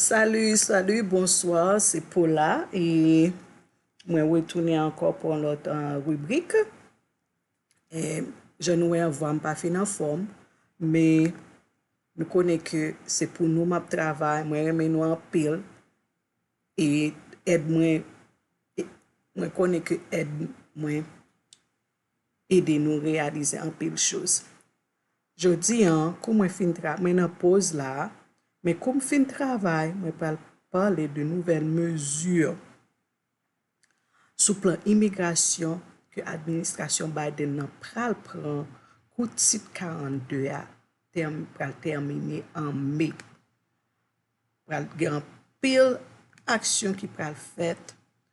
Salut salut bonsoir se Paula e mwen retounen ankò pou yon lòt ribrik e jan nou wè an vwam pa fin anfòm me nou konnen ke se pou nou map travay mwen renmen nou anpil e èd mwen mwen konnen ke èd mwen ede nou reyalize anpil choz jodi an kou mwen fin tra mwen nan poz la men kou m fin travay mwen pral pale de nouvèl mezi sou plan imigrasyon ke administrasyon Biden nan pral pran kou tit 42 a pral tèmine an me pral gen anpil aksyon ki pral fèt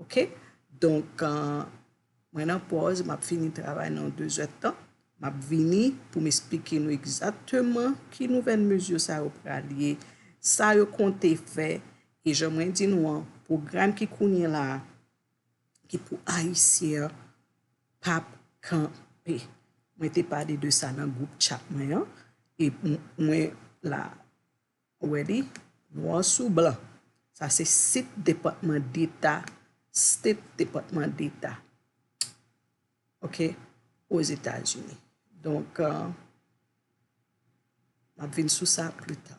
Ok donk mwen nan pòz map fini travay nan 2 zè tan map vini poum esplike nou egzakteman ki nouvèl mezi sa yo pral ye sa yo konte fè e jan mwen di nou an pwogram ki kounye la ki pou ayisyen an pap kanpe mwen te pale de sa nan gwoup chat mwen an e mwen la. Ou wè li nwa sou blan. Sa se sit Depatman Deta, State Department d'Etat, ok, Ozetazini. Donk, m ap vin sou sa pli ta.